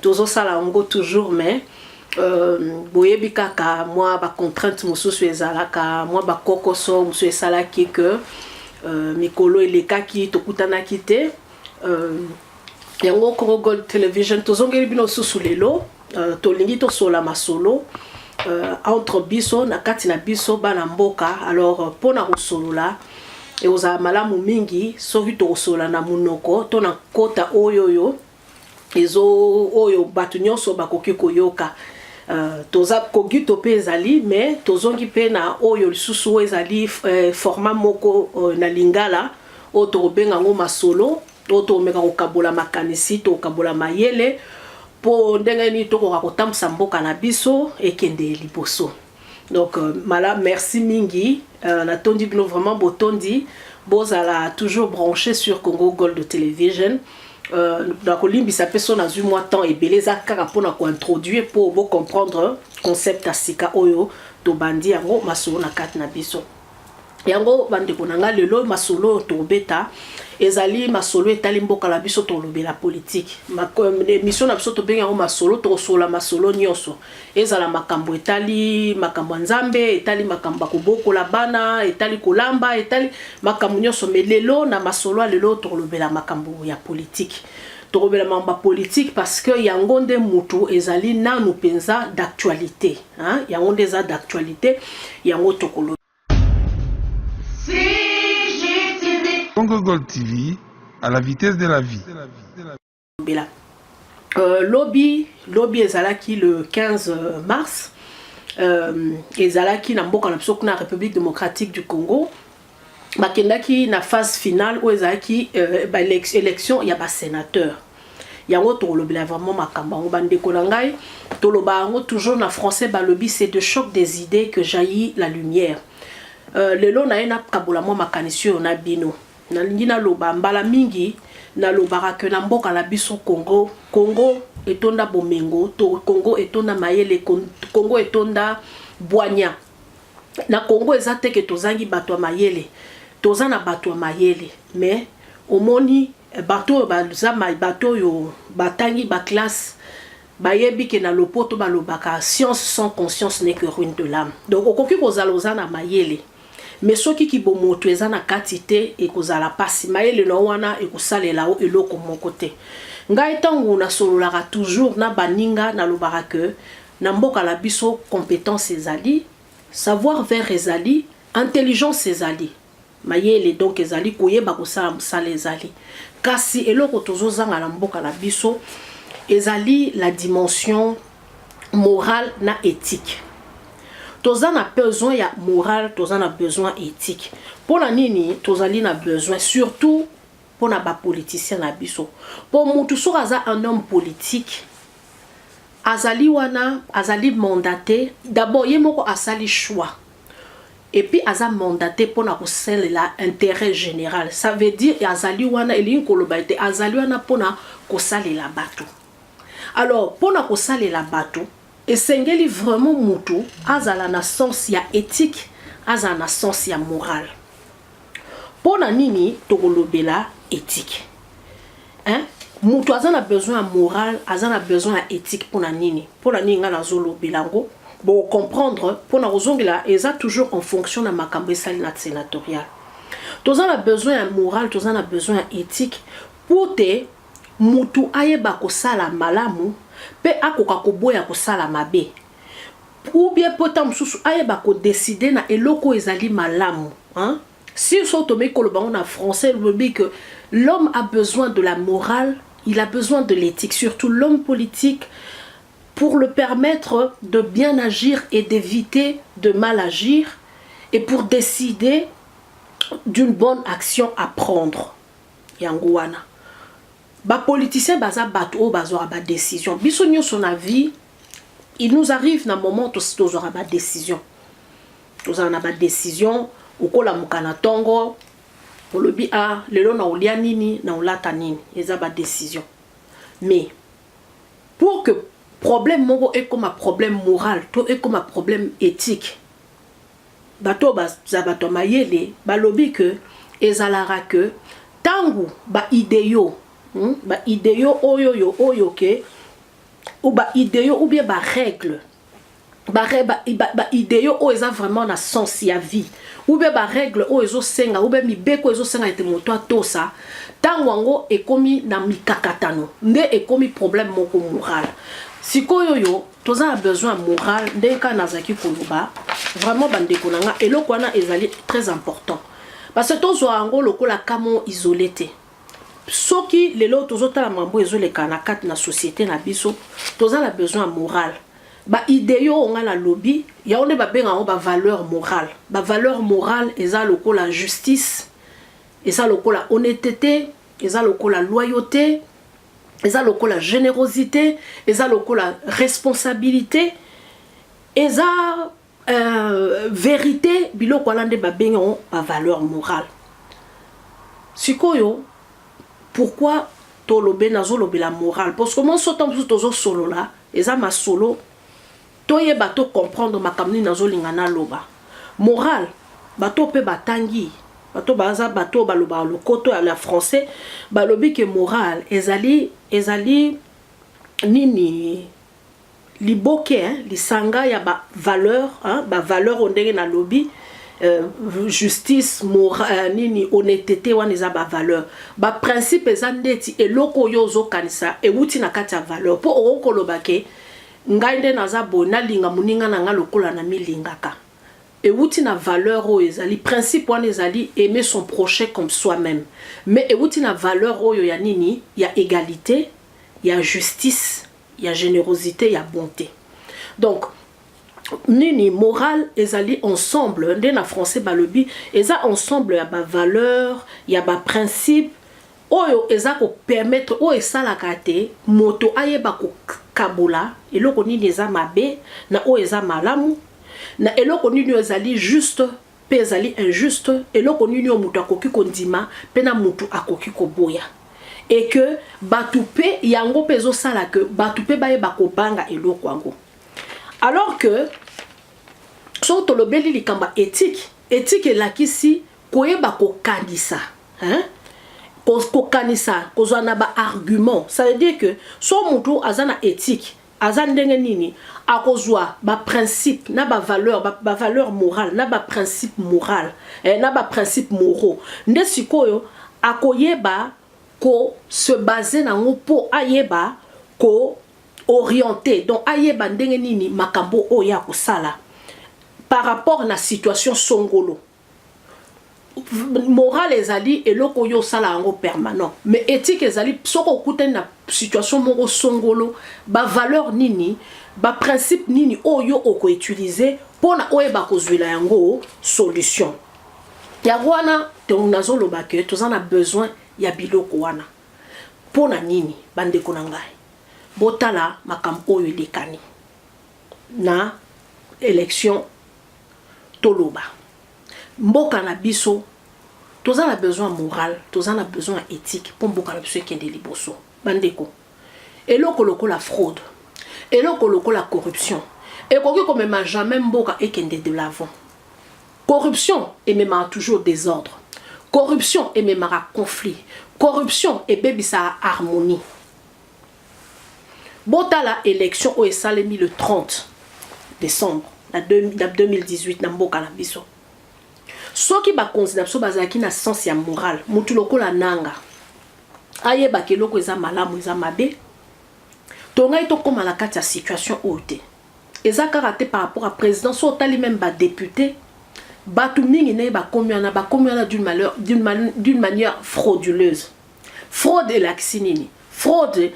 tozosala yango toujours mais Euh, boyebi kaka mwa bacontrainte mosusu ezalaka mwa bakokoso mosusu esalaki ke euh, mikolo elekaki tokutanaki te euh, yango congo gold television tozongeli bino susu lelo euh, tolingi tosola masolo euh, entre biso na kati na biso bana mboka alors euh, mpo na kosolola ekozala malamu mingi soki tokosolola na monoko to na nkota oyo oyo ezo oyo bato nyonso bakoki koyoka Euh, toza kogito mpe ezali mais tozongi mpe na oyo lisusu oyo ezali euh, format moko euh, na lingala oyo tokobenga yango masolo oyo tokomeka kokabola makanisi tokokabola mayele mpo ndenge nini tokoka kotambwisa mboka na biso ekende liboso Donc euh, mala merci mingi euh, na tondi bino vraiment botondi bozala toujours branché sur Congo Gold Television euh, na kolimbisa mpe so nazwi mwa temps ebele eza kaka mpo na kointroduire mpo bocomprendre concept ya sika oyo tobandi yango masolo na kati na biso yango bandeko na ngai lelo masolo oyo tobeta ezali masolo etali mboka na biso tolobela politike emisio na biso tobengi yango masolo tokosolola masolo nyonso ezala makambo etali makambo ya nzambe etali makambo ya kobokola bana etali kolamba etali makambo nyonso me lelo na masolo ya lelo tokolobela makambo ya politike tokobela makambo ya politike parce que yango nde motu ezali nanu mpenza d'actualité Hein, yango nde eza d'actualité yango tokolo Congo Gold TV à la vitesse de la vie. Bela. Euh, lobby, lobby ezalaki le 15 euh, mars euh, ezalaki na mboka na biso kuna République démocratique du Congo bakendaki na phase finale oyo ezalaki euh, ba élection ya ba sénateur yango tokolobela vraiment makambo yango bandeko na ngai toloba yango toujours na français balobi c'est de choc des idées que jaillit la lumière euh, lelo naye nakabola mwa makanisi oyo na bino nalingi naloba mbala mingi nalobaka ke na mboka na biso congo congo etonda bomengo to congo etonda mayele congo etonda bwanya na Congo eza te que tozangi bato ya mayele toza na bato ya mayele mais omoni eh, bato oyo baza bato oyo batangi baclasse bayebi ke na lopoto balobaka science sans conscience n'est que ruine de l'âme donc okoki kozala oza na mayele mais soki kibomoto eza na kati te ekozala mpasi mayele na yo wana ekosalela yo eloko moko te ngai ntango nasololaka toujours na baninga nalobaka ke Na mboka na biso competence ezali, savoir faire ezali, intelligence ezali, mayele donc ezali, koyeba kosala mosala ezali, kasi eloko tozo zanga na mboka na biso ezali la dimension morale na ethique. Toza na besoin ya morale, toza na besoin ethique. Pona nini tozali na besoin surtout pona ba politiciens na biso po mutu soki aza un homme politique azali wana azali mandate d'abord ye moko asali choix et puis aza mandate pona kosalela intérêt général ça veut dire azali wana elingi koloba ete azali wana pona kosalela bato alors pona kosalela bato esengeli vraiment mutu azala na sens ya éthique azala na sens ya morale Mpo na nini tokolobela ethique hein? Moto aza na besoin ya morale, aza na besoin ya ethique mpo na nini? Mpo na nini ngai nazolobela yango bo comprendre mpo na kozongela eza toujours en fonction na makambo esali na senatorial. Toza na besoin ya morale, toza na besoin ya ethique mpo te motu ayeba kosala malamu mpe akoka koboya kosala mabe ou bien mpo ntango mosusu ayeba kodeside na eloko oyo ezali malamu hein? sur so tomeki koloba yango na français lobi que l'homme a besoin de la morale il a besoin de l'éthique surtout l'homme politique pour le permettre de bien agir et d'éviter de mal agir et pour décider d'une bonne action à prendre yango wana bapoliticien baza bato oyo bazwaka badécision biso nyonso na vie Il nous arrive na moment tosi tozwaka ba decision tozala na ba decision okolamuka na tongo olobi a ah, lelo na olia nini na olata nini eza ba decision mais pour que problème moko ekoma problème moral to ekoma problème éthique bato oyo baza bato ya mayele balobi ke ezalaka ke ntango baideo hmm, baideo oyo oyo oyo ke ou ba ideo ou bien ba règle ba, ba, ba, ba ideo oyo eza vraiment na sens ya vie ou bien ba règle oyo ezosenga ou bien mibeko ezosenga ete moto atosa ntango yango ekomi na mikakatano nde ekomi problème moko moral sikoyo oyo toza na besoin ya moral ndenge kaka nazalaki koloba vraiment bandeko na nga eloko wana ezali très important parce que tozwa yango lokola kamo isole te Soki lelo tozo tala mambo ezo leka na kati na societe na biso, toza na besoin ya moral. Ba ideo oyo nga na lobi, yango nde ba benga yango ba valeur moral. Ba valeur moral eza lokola justice, eza lokola honnetete, eza lokola loyaute, eza lokola generosite, eza lokola responsabilite, eza Euh, verite biloko wana nde babengi yango bavaleur morale sikoyo pourkui tolobe nazolobela morale parceke mwa sota mosusu tozosolola eza masolo toyeba to comprendre makambo nini nazolinga naloba morale bato mpe batangi bato baza bato oyo balobaka lokoto ya français balobi ke morale ezali ezali nini liboke hein lisanga ya ba valeur hein ba valeur oyo ndenge na lobi euh, justice mora, euh, nini honnêteté wana eza ba valeur ba principe eza ndeti eloko oyo ozokanisa ewuti na kati ya valeur mpo okoki koloba ke ngai nde naza boye nalinga moninga na ngai lokola na milingaka ewuti na valeur oyo ezali principe wana ezali aimer son prochain comme soi-même mais ewuti na valeur oyo ya nini ya égalité ya justice ya generosite ya bonte donc nini morale ezali ensemble nde na français balobi eza ensemble ya bavaleur ya baprincipe oyo eza kopermettre oyo esalaka te moto ayeba kokabola eloko nini eza mabe na oyo eza malamu na eloko nini oyo ezali juste Mpe ezali injuste, eloko nini oyo moto akoki kondima mpe na moto akoki koboya? Et que bato mpe yango mpe ezosala que bato mpe bayeba kobanga eloko yango. Alors que soki tolobeli likambo ya ethique, ethique elakisi koyeba kokanisa hein? kokanisa kozwa na baargument ça veut dire que so motu aza na ethique aza ndenge nini akozwa ba principe na ba valeur ba, ba valeur morale na ba principe morale eh, na ba principe moraux nde sikoyo akoyeba ko se baser nango mpo ayeba ko orienter donc ayeba ndenge nini makambo oyo akosala par rapport na situation songolo morale ezali eloko oyo osala yango permanent mais éthique ezali soki okutani na situation moko songolo bavaleur nini baprincipe nini oyo okoutilize mpo na oyeba kozwela yango solution yango wana donc nazoloba ke toza na besoin ya biloko wana mpo na nini bandeko na ngai botala makambo oyo elekani na élection toloba mboka na biso toza na besoin ya morale toza na besoin ya ethique mpo mboka na biso ekende liboso bandeko eloko lokola fraude eloko lokola corruption ekoki komema jamais mboka ekende de l'avant corruption ememaka toujours désordre corruption ememaka conflit corruption ebebisaka harmonie Botala election oyo esalemi le 30 decembre na 2018 na mboka na biso. Soki bakonzi na biso bazalaki na sens ya moral, mutu lokola nanga ayebaka eloko eza malamu eza mabe, tongai tokóma na kati ya situation oyo te. Eza kaka te par rapport à président, so otali même ba députés, bato mingi naye bakomi wana, bakomi wana d'une manière frauduleuse. Fraude elakisi nini? Fraude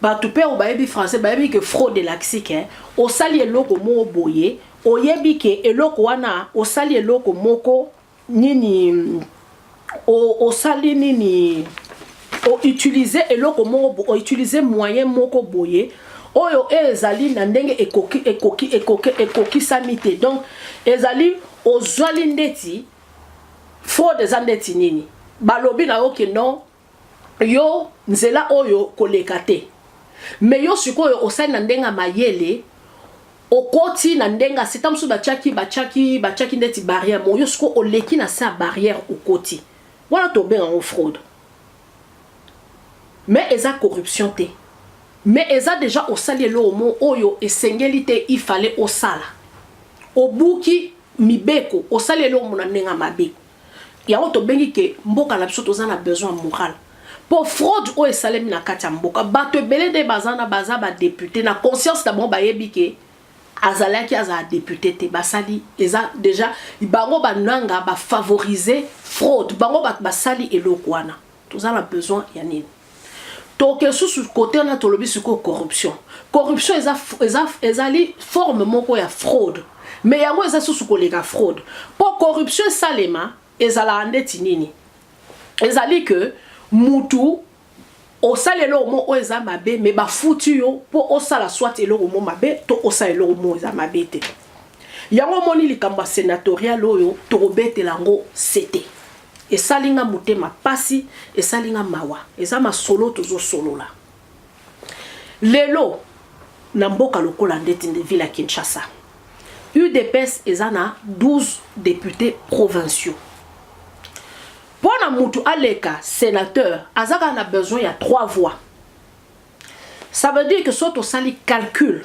bato mpe oyo bayebi français bayebi ke fraude elakisi ke osali eloko moko boye oyebi ke eloko wana osali eloko moko nini o, osali nini o utiliser eloko moko o utiliser moyen moko boye oyo ezali na ndenge ekoki ekoki ekoki ekokisami te donc ezali ozwali ndeti Fraude eza ndeti nini? Balobi na yo que non, yo nzela oyo koleka te. Mais yo sikoyo osali na ndenge ya mayele, okoti na ndenge ya se, tango mosusu batiaki, batiaki, batiaki ndeti barrière moko, yo sikoyo oleki na se ya barrière okoti. Wana tobenga yango fraude. Mais eza corruption te. Mais eza dejà osali eloko moko oyo esengeli te, il fallait osala. Obuki mibeko osali eloko na ndenge ya mabe yango tobengi ke mboka na biso toza na besoin ya morale mpo fraude oyo esalemi na kati ya mboka bato ebele nde baza na baza badepute na conscience na bango bayebi ke azalaki azala depute te basali eza deja bango bananga bafavorize fraude bango bato basali eloko wana toza na besoin ya nini toke susu kote wana tolobi sikoyo corruption corruption eza, eza, ezali forme moko ya fraude me yango eza susu koleka fraude mpo corruption esalema ezalaka ndeti nini ezali ke mutu osala eloko moko oyo eza mabe me bafuti yo mpo osala swat eloko moko mabe to osala eloko moko eza mabe te Yango omoni likambo ya senatorial oyo tokobetela yango sete. Esali nga motema pasi, esali nga mawa. Eza masolo tozosolola. Lelo na mboka lokola ndeti nde ville ya Kinshasa. UDPS eza na 12 députés provinciaux. Mpo na mutu aleka senateur aza kaka na besoin ya 3 voix. Ça veut dire que so tosali calcul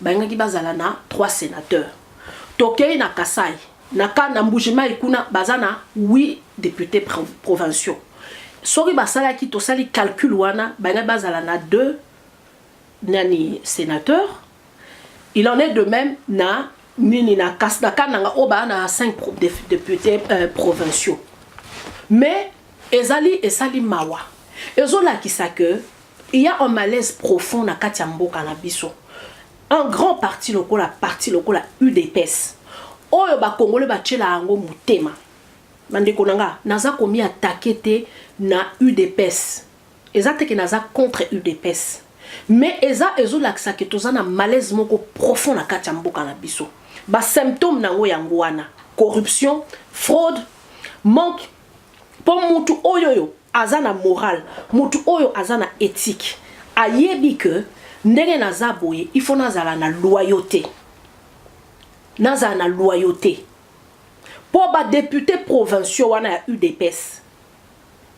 Balingaki bazala na trois senateurs. Tokei na Kasai, na ka na Mbujimayi kuna baza na huit deputes provinciaux. Soki basalaki tosali calcul wana balingaki bazala na deux nani senateurs. Il en est de même na nini na kas na kananga oyo baa na 5 députés euh, provinciaux mais ezali esali mawa ezolakisa que Il y a un malaise profond na kati ya mboka na biso. Un grand parti lokola parti lokola UDPS oyo ba congolais batiela yango motema. Bandeko na nga naza komi attaquer te na UDPS. Eza te ke naza contre UDPS. Mais eza ezolakisa ke toza na malaise moko profond na kati ya mboka na biso. Ba symptômes na yango yango wana corruption, fraude, manque mpo mutu oyo oyo aza na morale mutu oyo aza na ethique ayebi que ndenge naza boye il faut nazala na loyauté nazala na loyauté mpo badepute provinciaux wana ya udps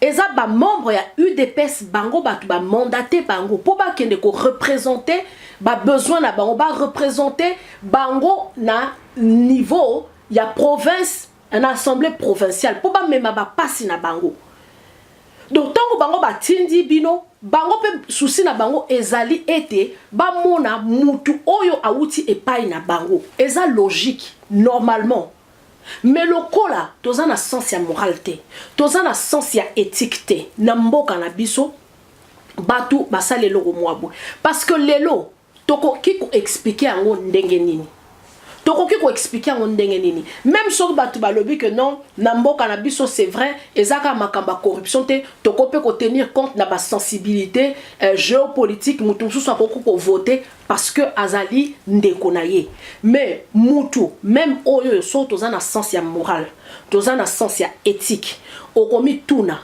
eza bamembre ya udps bango bato bamandate bango mpo bakende korepresente babesoin na bango barepresente bango na niveau ya province na assemblée provinciale mpo bamema bapasi na bango donc ntango bango batindi bino bango mpe susi na bango ezali ete bamona mutu oyo awuti epai na bango eza logique normalement me lokola toza na sens ya morale te toza na sens ya ethique te na mboka na biso bato basala eloko mwa boye parce que lelo Tokoki ko expliquer yango ndenge nini? tokoki ko expliquer yango ndenge nini même soki bato balobi que non na mboka na biso c'est vrai eza kaka makambo ya corruption te toko mpe kotenir compte na basensibilité euh, géopolitique moto mosusu akoki kovote parce que azali ndeko na ye mais mutu même oyo oyo soki toza na sens ya morale toza na sens ya éthique okomituna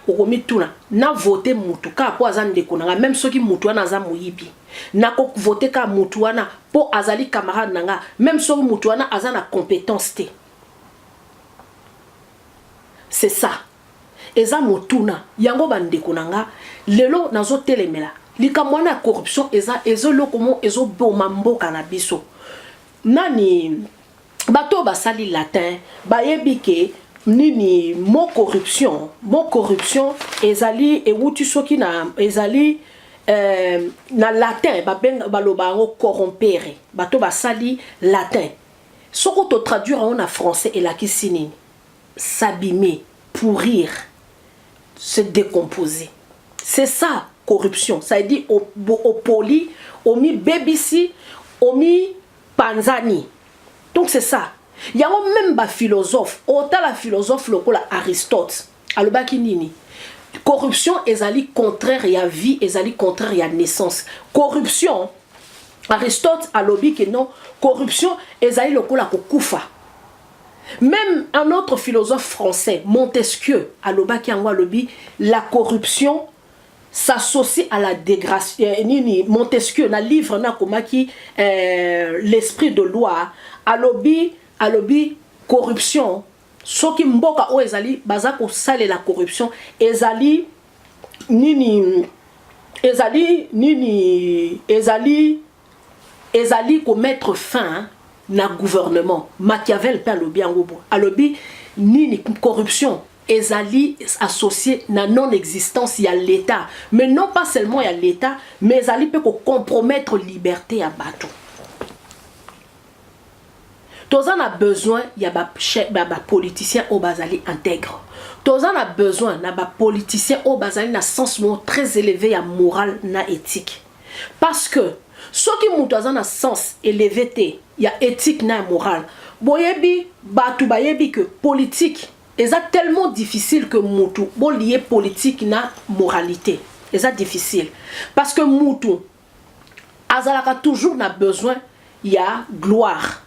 okomituna na vote mutu kaka mpo aza ndeko na nga meme soki mutu wana aza moyibi nakovote kaka mutu wana mpo azali camarade na nga meme soki mutu wana aza na competence te c'est ça eza motuna yango bandeko na nga lelo nazotelemela likambo wana ya corruption eza ezo eloko mo ezoboma mboka na biso Nani bato basali latin bayebi ke nini mo corruption mo corruption ezali ewuti soki na ezali euh, na latin babenga baloba yango corrompere bato basali latin soko to traduire yango na français elakisi nini s'abîmer pourrir se decomposer c'est ça corruption ça veut dire opoli omibebisi omipanzani donc c'est ça yango meme baphilosophe otala philosophe lokola aristote alobaki nini corruption ezali contraire ya vie ezali contraire ya naissance corruption aristote alobi ke non corruption ezali lokola kokufa Meme un autre philosophe français, Montesquieu, alobaki yango alobi la corruption s'associe à la dégradation. Euh, nini Montesquieu na livre na komaki euh, l'esprit de loi alobi alobi corruption soki mboka oyo ezali baza kosalela corruption ezali nini ezali nini ezali Ezali ko mettre fin na gouvernement. Machiavel pe alobi yango boye. Alobi nini corruption ezali associe na non existence ya l'etat mais non pas seulement ya l'etat mais ezali pe ko compromettre liberte ya batu. toza na besoin ya ba politiciens oyo bazali integre toza na besoin na ba politiciens oyo bazali na sens moko très élevé ya morale na ethique Parce que soki mutu aza na sens eleve te ya ethique na ya morale boyebi batu bayebi que politique eza tellement difficile que mutu bo lier politique na moralite eza difficile parce que mutu azalaka toujours na besoin ya gloire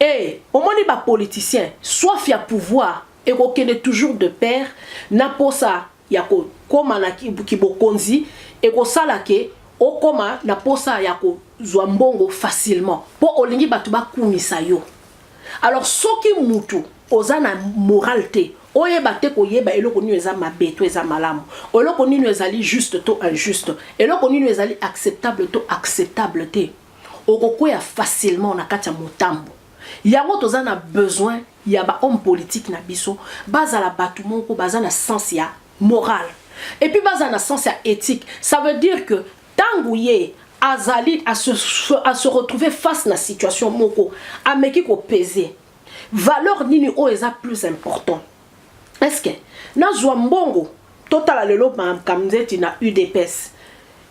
et omoni ba politiciens soif ya pouvoir ekokende toujours de paire na posa ya kokoma na kibokonzi ekosala ke okoma na mposa ya kozwa mbongo facilement mpo olingi bato bakumisa yo alors soki mutu oza na moral te oyeba te koyeba eloko nini eza mabe to eza malamu eloko nini ezali juste to injuste eloko nini ezali acceptable to acceptable te okokwea facilement na kati ya motambo yango toza na besoin ya ba homme politique na biso bazala batu moko baza na sens ya moral et puis bazala na sens ya ethique ça veut dire que tangu ye azali à se, à se retrouver face na situation moko ameki ko peser valeur nini oyo eza plus important est-ce que nazwa mbongo totala lelo makambo nzeti na udps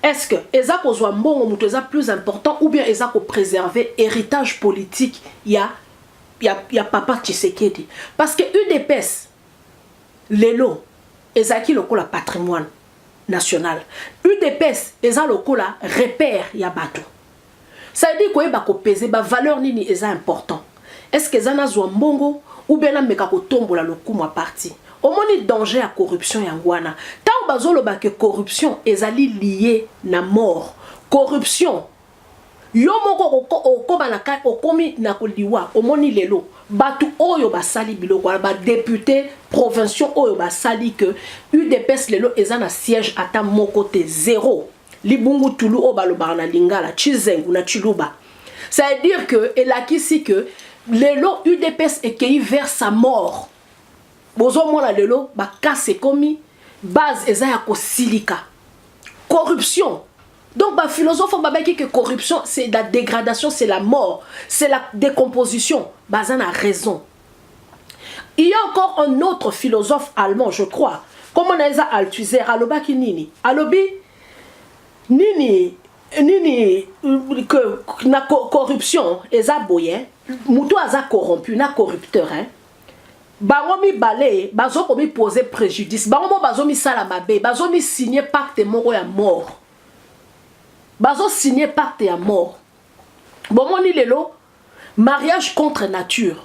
est-ce que eza kozwa mbongo moto eza plus important ou bien eza kopréserve héritage politique ya ya, ya papa Tshisekedi parce que UDPS lelo ezalaki lokola patrimoine national udps eza lokola repère ya bato cetadi koyeba kopese bavaleur nini eza important estce eza nazwa mbongo oubien nameka kotombola lokumu ya parti omoni danger ya corruption yango wana ntango bazoloba ke corruption ezali lie na mort corruption Yo moko okoba na kati okomi na koliwa omoni lelo batu oyo basali biloko wana ba depute provinciaux oyo basali que udps lelo eza na siège ata moko te zero libungu tulu oyo balobaka na lingala chizengu na chiluba ça veut dire que elakisi que lelo udps ekeyi vers sa mort bozomona lelo bakasi ekomi base eza ya kosilika corruption Donc ba philosophe ba baki que corruption c'est la dégradation, c'est la mort, c'est la décomposition. Baza na raison. Il y a encore un autre philosophe allemand, je crois. Comment naeza Althusser aloba ki nini? Alobi nini nini que na corruption eza boye, mutu aza corrompu na corrupteur hein. bango mibale bazo komi poser prejudice bango mo bazo misala mabe bazo mi signer pacte moko ya mort bazo signer pacte ya mort bomoni lelo mariage contre nature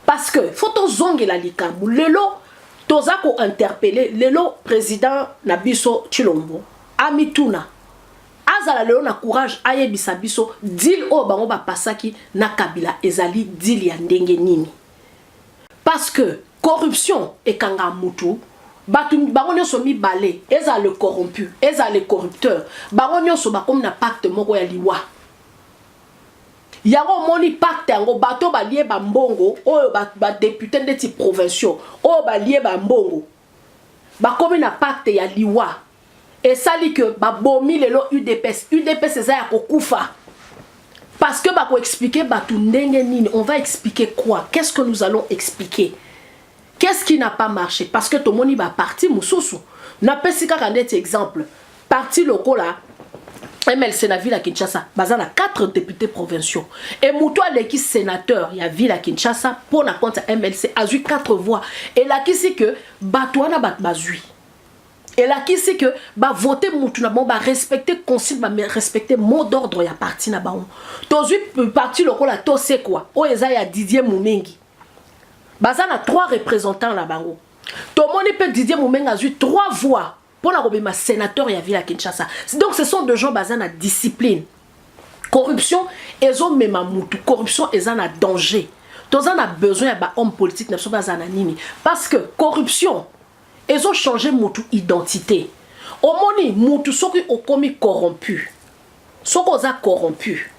parce que faut tozongela likambo lelo toza ko interpeller lelo président na biso Tshilombo amituna Azala lelo na courage ayebisa biso deal oyo bango ba pasaki na Kabila ezali deal ya ndenge nini? Parce que corruption ekanga mutu bato bango nyonso mibale ezala le corrompu ezala le corrupteur bango nyonso bakomi na pacte moko ya liwa yango omoni pacte yango bato balie bambongo oyo badepute ba ndeti provinciaux oyo balie bambongo bakomi na pacte ya liwa esali que babomi lelo udps udps eza ya kokufa parce que bako expliquer bato ndenge nini on va expliquer quoi qu'est ce que nous allons expliquer qu'est ce qui n'a pas marché parce que tomoni ba parti mosusu napesi kaka ndeti exemple Parti lokola MLC na ville ya Kinshasa baza na 4 députés provinciaux et moto aleki sénateur ya ville ya Kinshasa mpo na compte ya MLC azwi 4 voix elakisi que bato wana bato bazwi elakisi que bavote mutu na bango barespecte consigne barespecte mot d'ordre ya parti na bango tozwi parti lokola tosekwa oyo eza ya didier mumingi baza na 3 représentants na bango tomoni mpe didier mumingi azwi 3 voix Pour la kobima sénateur ya ville à Kinshasa. Donc ce sont des gens basés na discipline. Corruption ezo mema mutu, corruption eza na danger. Toza na besoin ya ba hommes politiques na biso baza na nini? Parce que corruption ezo changer mutu identité. Omoni mutu soki okomi corrompu. Soki oza corrompu,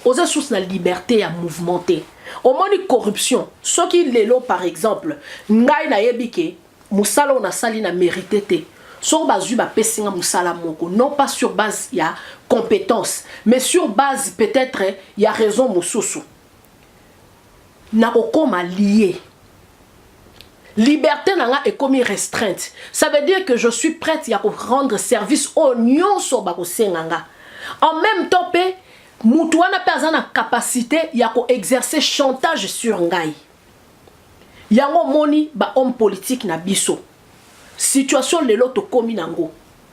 oza sous na liberté ya mouvement te. Omoni corruption. Soki lelo par exemple, ngai nayebi ke Musala oyo nasali na merite te. Soki bazui bapesi nga musala moko non pas sur base ya competence mais sur base peut etre ya raison mususu nakokoma lie liberté na nga ekomi restreinte ça veut dire que je suis prête ya ko rendre service oyo nyonso bakosenga nga en même temps mpe mutu wana mpe aza na capacité ya ko exercer chantage sur ngai Yango omoni ba homme politique na biso situation lelo tokomi nango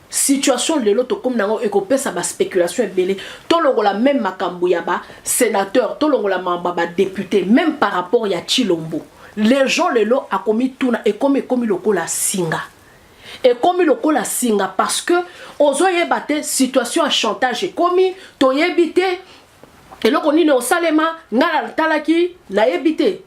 situation lelo tokomi nango ekopesa ba speculation ebele tolongola meme makambo ya ba senateur tolongola mamba ba depute meme par rapport ya chilombo les gens lelo akomi tuna ekomi ekomi lokola singa ekomi lokola singa parce que ozoyeba te situation ya chantage ekomi toyebi te eloko nini osalema nga natalaki nayebi te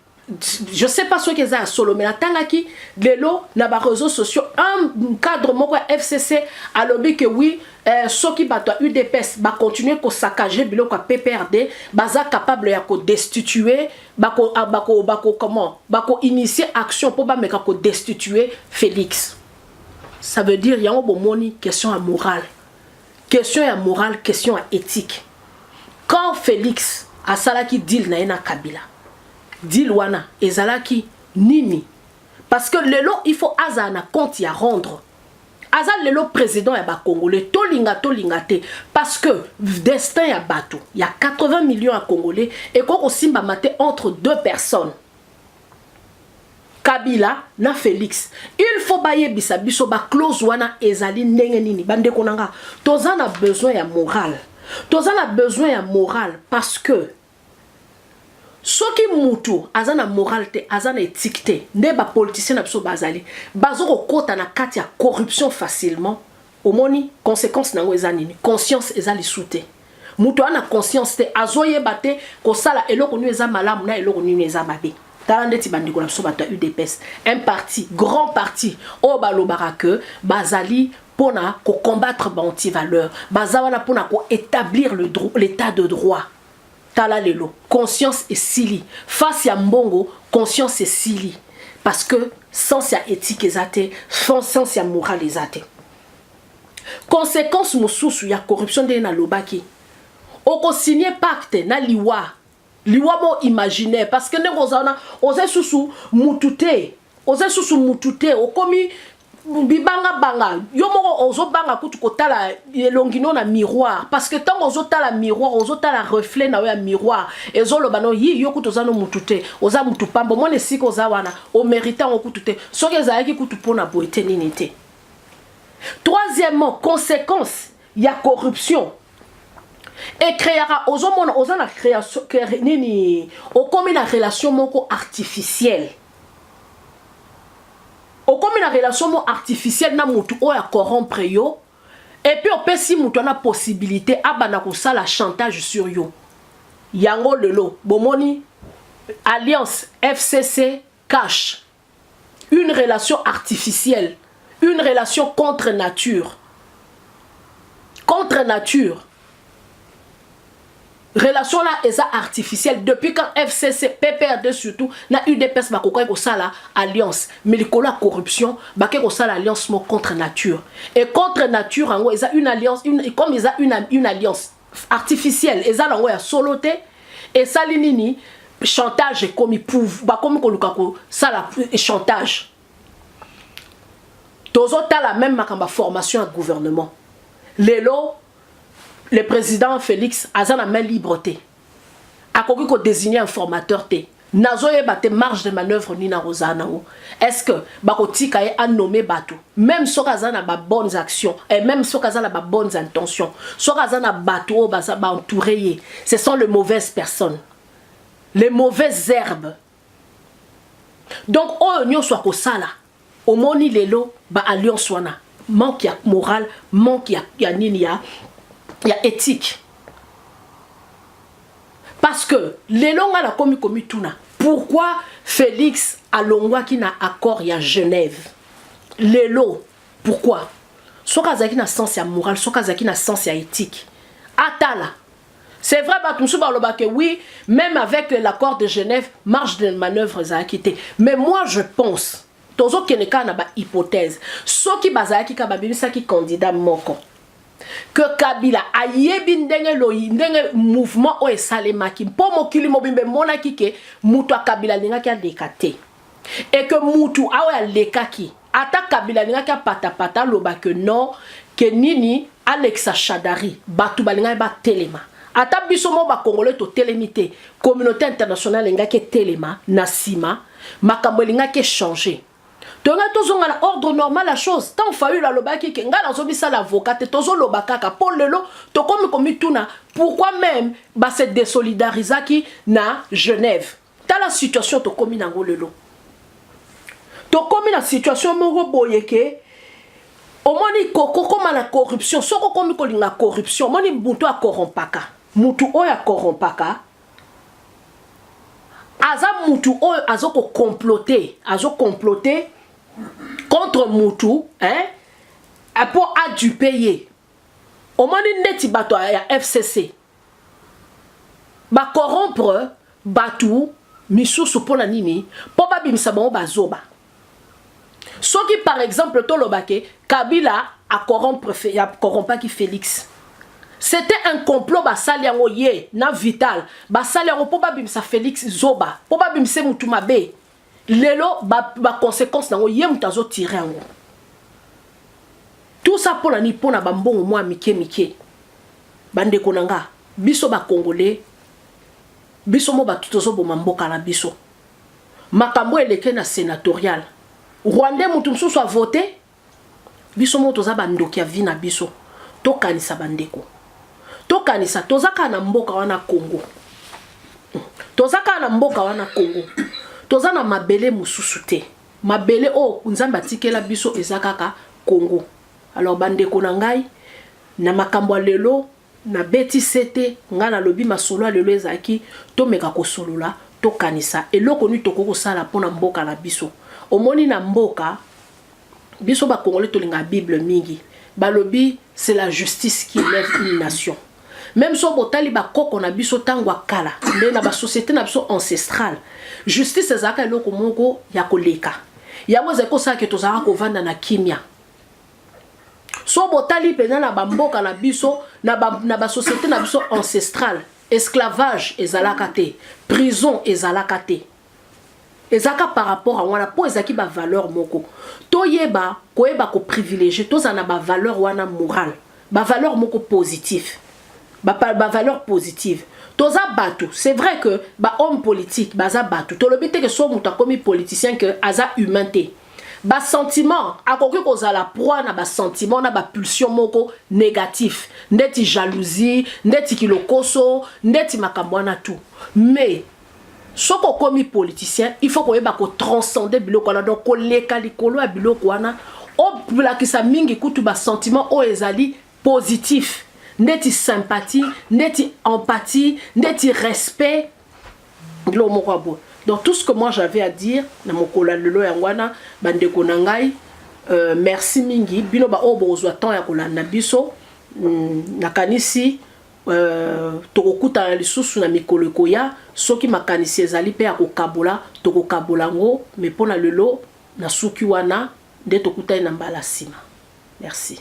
je sais pas soki eza ya solo mais natangaki lelo na ba réseaux sociaux un cadre moko ya fcc alobi que oui euh, soki bato ya udps bacontinue kosakage biloko ya pprd baza capable ya kodestitue bako, ah, bako, bako comment bakoinitie action mpo bameka kodestitue félix ça veut dire yango bomoni question ya morale Question ya morale, question ya ethique. Quand Felix asalaki deal na ye na Kabila, deal wana ezalaki nini? Parce que lelo il faut azala na compte ya rendre. Aza lelo président ya ba Congolais, tolinga tolinga te parce que destin ya bato ya 80 millions ya Congolais ekoki kosimbama te entre deux personnes. Kabila na Felix il faut bayebisa biso ba clause wana ezali ndenge nini bandeko na nga toza na besoin ya morale toza na besoin ya morale parce que soki mutu aza na morale te aza na ethique te nde bapoliticien na biso bazali bazokokota na kati ya corruption facilement Omoni consequence nango eza nini? Conscience eza lisu te. Mutu ana conscience te azoyeba te kosala eloko nini eza malamu na eloko nini eza mabe. Tala ndeti bandeko na biso bato ya udps un parti grand parti oyo balobaka que bazali pona ko combattre ba antivaleur baza wana pona ko etablir l'état de droit Tala lelo conscience esili face ya mbongo conscience esili parce que sens ya ethique eza te sens ya morale eza te consequence mosusu ya corruption ndenge nalobaki okosigne pacte na liwa liwa mo imaginaire parce que ndenge oza wana oza lisusu mutu te oza lisusu mutu te okomi bibanga banga yo moko ozobanga kutu kotala elongi no na miroir parce que ntango ozotala miroir ozotala reflet na yo ya miroir ezoloba no yi yo kutu oza no mutu te oza mutu pamba omona esika oza wana omerite yango kutu te soki ezalaki kutu mpo na boye te nini te troisièmement conséquence ya corruption ecreaka ozomona oza na création nini okomi na relation moko artificielle okomi na relation mo artificielle na mutu oyo a corrompre yo et puis opesi mutu ana possibilité abanda kosala chantage sur yo yango lelo bomoni alliance fcc cash une relation artificielle une relation contre nature contre nature Relation là eza artificielle depuis quand FCC, PPRD surtout na UDPS bakokaki kosala alliance mais likolo ya corruption bake kosala alliance moko contre nature et contre nature yango eza une alliance une, comme eza une, une alliance artificielle eza nango ya solo te esali nini chantage ekomi pouv bakomi koluka kosala chantage tozotala meme makambo ya formation ya gouvernement lelo Le president Felix aza na main libre te. Akoki ko designer un formateur te. Nazoyeba te marge de manœuvre nini akozala nango. Est-ce que bakotika ye a nommer bato même soki aza na ba bonnes actions et même soki aza na ba bonnes intentions. Soki aza na bato oyo baza ba entourer ye, ce sont les mauvaises personnes. Les mauvaises herbes donc oyo nyonso akosala omoni lelo ba alliance wana manque ya morale manque ya, ya nini ya, ya éthique parce que lelo ngai nakomi komituna pourquoi félix alongwaki na accord ya genève lelo pourquoi soki azalaki na sens ya morale soki azalaki na sens ya éthique atala C'est vrai, Batumsou Baloba que oui, même avec l'accord de Genève, marge de manœuvre est acquittée. Mais moi, je pense, tozo keneka na ba hypothèse, ceux qui bazaki ka babimisa ki candidat moko. que kabila ayebi ndenge loyi ndenge mouvement oyo esalemaki mpo mokili mobimba emonaki ke moto ya kabila alingaki aleka te et que mutu aoyo alekaki ata kabila alingaki apatapata aloba que non ke nini alekisa shadari bato balingaki batelema ata biso moko bakongole totelemi te communauté internationale elingaki etelema na nsima makambo elingaki echange toyongai tozonga na ordre normal ya chose ntango fayulu alobaki ke ngai nazobisala avocat te tozoloba kaka mpo lelo tokomi komituna pourquoi meme base desolidarizaki na genève tala situation tokomi nango lelo tokomi na situation moko boye ke omoni kokokoma na corruption soki okomi kolinga corruption omoni moto akorompaka motu oyo akorompaka aza motu oyo azokokomplote azokomplote contre motu hein, mpo adupe ye omoni ndeti bato ya fcc ba corrompre batu misusu pona nini po babimisa bango bazoba soki par exemple toloba ke kabila a corrompre ya corrompaki felix C'était un complot basali yango ye na vital basali yango po babimisa Felix zoba po babimisa mutu mabe lelo ba, ba consequence nango ye moto azo tire yango tout ça mpo na nini mpo na bambongo mwa mike mike bandeko na nga biso bakongole biso mo bato tozoboma mboka na biso makambo eleke na senatorial rwandais moto mosusu avote Biso moko toza ba ndoki ya vie na biso tokanisa ba ndeko tokanisa toza kaka na mboka wana Congo toza kaka na mboka wana Congo toza na mabele mosusu te mabele oyo Nzambe atikela biso eza kaka Congo alors ba ndeko na ngai na makambo ya lelo Na beti sete, ngai na lobi masolo ya lelo ezalaki to meka ko solola, to kanisa eloko nini tokoki ko sala po na mboka na biso. Omoni na mboka, biso ba congolais to lingaka bible mingi. Ba lobi c'est la justice qui eleve une nation. Meme soki bo tali ba koko na biso tangu ya kala, nde na ba societes na biso ancestrales, justice ezalaka eloko moko ya ko leka. Yango ezali ko sala que tozalaka ko vanda na kimia. so botali mpenza na bamboka na biso na basociété na biso ancestrale esclavage ezalaka te prison ezalaka te ezalaka par rapport yango wana mpo ezalaki bavaleur moko toyeba koyeba koprivilégie tozala na bavaleur wana morale bavaleur moko positif bavaleur ba positive toza bato c'est vrai que bahomme politique baza bato tolobi te ke so moto akomi politicien ke aza humain te ba sentiment akoki kozala proie na ba sentiment na ba pulsion moko négatif ndeti jalousie ndeti kilokoso ndeti makambo wana tout mais soki okomi politicien il faut koyeba ko transcender biloko wana donc koleka likolo ya biloko wana olakisa mingi kutu ba sentiment oyo ezali positif ndeti sympathie ndeti empathie ndeti respect biloko moko ya boye donc tout ce que moi j'avais à dire na mokolo ya lelo yango wana bandeko na ngai euh, merci mingi bino baoyo bokozwa temps ya kolanda biso mm, nakanisi euh, tokokutana lisusu na mikolo ekoya soki makanisi ezali mpe ya kokabola tokokabola yango me mpo na lelo nasuki wana nde tokutani na mbala nsima merci